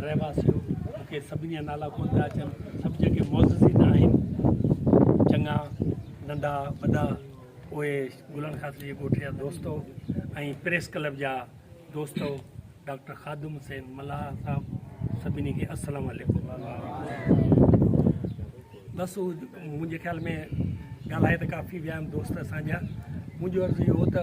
رهواسيو مون کي سڀني جا نالا ڪونه پيا اچن سڀ جيڪي معززين آهن چڱا ننڍا وڏا اهي گلن خاطر جي ڳوٺ جا دوست ۽ پريس ڪلب جا دوست ڊاڪٽر خادم حسين ملاح صاحب سڀني کي السلام عليڪم بس منهنجي خيال ۾ ڳالهائي ته ڪافي ويا آهن دوست اسان جا منهنجو عرض اهو هو ته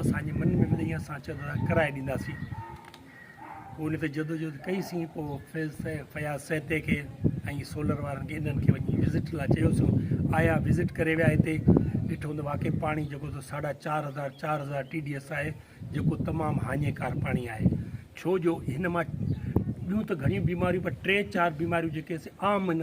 اسان جي من ۾ ٻڌئي اسان چيو ته ڪرائي ڏينداسين پوء ان تي جدوجهد ڪئي سين پوء فيض فياض سهتي کي ۽ سولر وارن کي انهن کي وڃي وزٽ لاء چيوسون آيا وزٽ ڪري ويا هتي ڏٺو ته واقعي پاڻي جيڪو تو ساڍا چار هزار چار هزار ٽي ڊي ايس آهي جيڪو تمام هاڃيڪار پاڻي آهي ڇو جو هن مان ٻيون ته گهڻيون بيماريون پر ٽي چار بيماريون جيڪي سي عام هن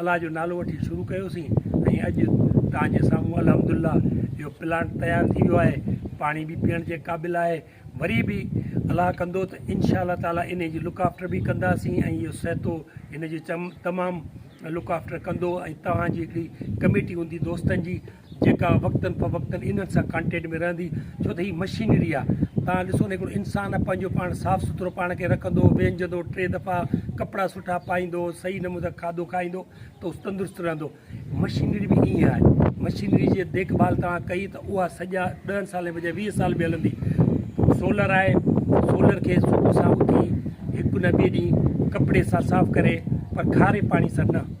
الله جو نالو وٺي شروع ڪيوسين ۽ اڄ توهان جي سامهون الحمدلله اهو پلانٽ تيار ٿي ويو آهي پاڻي به پيئڻ جي قابل آهي وري به الله ڪندو ته انشاء الله تعالٰي ان جي لڪ آفٽر به ڪنداسين ۽ اهو سهتو ان جي تمام لڪ آفٽر ڪندو ۽ توهان جي هڪڙي ڪميٽي هوندي دوستن جي جيڪا وقتن فوقتن انهن سان ڪانٽيٽ ۾ رهندي ڇو ته هي مشينري آ توهان ڏسو نه هڪڙو انسان پنهنجو پاڻ صاف سٿرو پاڻ کي رکندو وينجهندو ٽي دفعا ڪپڙا سٺا پائيندو صحيح نمون سان کاڌو کائيندو ته هو تندرست رهندو مشينري به ائين آهي مشينري جي ديک ڀال توهان ڪئي ته اها سڄا ڏهن سالن بجاء ويهه سال به هلندي سولر آهي سولر کي صبح سان اٿي هڪ نه ٻئي ڏينهن ڪپڙي سان صاف ڪري پر کاري پاڻي سان نه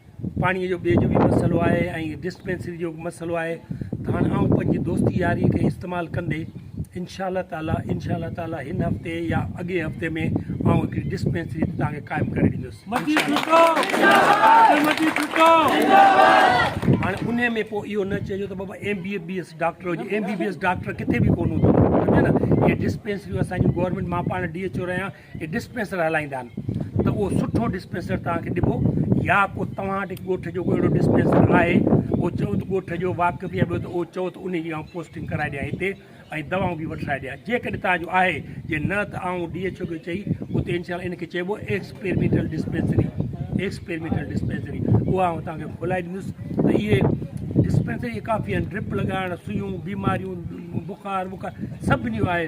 پاڻيء جو ٻئي جو به مسئلو آهي ۽ ڊسپينسري جو به مسئلو آهي ته هاڻ آئون پنهنجي دوستي ياري کي استعمال ڪندي انشاء الله تعاليٰ انشاء الله تعاليٰ هن هفتي يا اڳئين هفتي ۾ آئون هڪڙي ڊسپينسري توهان کي قائم ڪري ڏيندس هاڻي انهيء ۾ پوء اهو نه چئجو ته بابا M B B S doctor هجي M B B S doctor ڪٿي به ڪونه هوندو سمجهيو نه هي ڊسپينسريون اسان جون گورنمينٽ مان پاڻ ڊي ايڇ او رهيان جي ڊسپينسر هلائيندا آهن ته اهو سٺو ڊسپينسر توهان کي ڏبو يا ڪو توهان وٽ ڳوٺ جو ڪو اهڙو ڊسپينسر آهي اهو چئو ته ڳوٺ جو واقف يا ٻيو ته اهو چئو ته ان جي آئون پوسٽنگ ڪرائي ڏيان هتي ۽ دوائون به وٺرائي ڏيان جيڪڏهن توهان جو آهي جي نه ته آئون ڊي ايڇ او کي چئي اتي انشاء ان کي چئبو ايڪسپيرمينٽل ڊسپينسري ايڪسپيرمينٽل ڊسپينسري اها آئون توهان کي کولائي ڏيندس ته اهي ڊسپينسري ڪافي آهن ڊرپ لڳائڻ سيون بيماريون بخار وخار سڀني جو آهي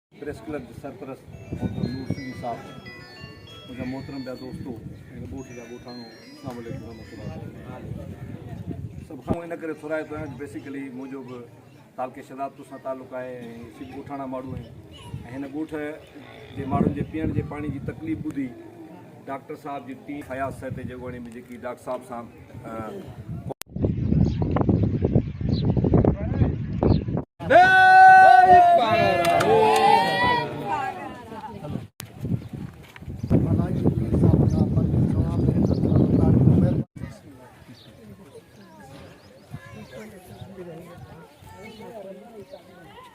پريس ڪلب جي سرپرست محترم نور سنڌي صاحب، منهنجا محترم ٻيا دوستو ۽ ڳوٺ جا ڳوٺاڻو اسلام عليڪم ورحمة الله وبرڪاته سڀ کان ان ڪري ٿورائتو آهيان جو بيسيڪلي منهنجو به تعلقي شهدادپور سان تعلق آهي ۽ اسين به ڳوٺاڻا ماڻهو آهيون ۽ هن ڳوٺ جي ماڻهن جي پيئڻ جي پاڻي جي تڪليف ٻڌي ڊاڪٽر صاحب جي ٽيم فياض سهتي جي اڳواڻي ۾ جيڪي ڊاڪٽر صاحب سان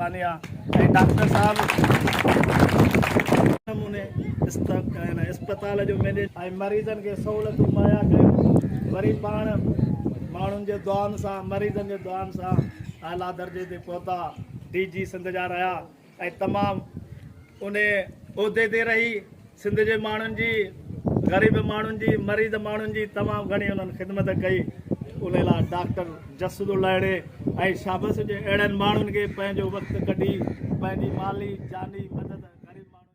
ثانيه ۽ ڊاڪٽر صاحب نموني اسپتال جو مينيجر ۽ مريضن کي سهولتون مهيا ڪيون وري پاڻ ماڻهن جي دعائن سان مريضن جي دعائن سان اعليٰ درجي تي پهتا ڊي جي سنڌ جا رهيا ۽ تمام انهي عهدي تي رهي سنڌ جي ماڻهن جي غريب ماڻهن جي مريض ماڻهن جي تمام گهڻي انهن خدمت ڪئي ان لاء ڊاڪٽر جسد الهڙي ۽ شابس جي اهڙن ماڻهن کي پنهنجو وقت ڪڍي پنهنجي مالي جاني مدد غريب ماڻهن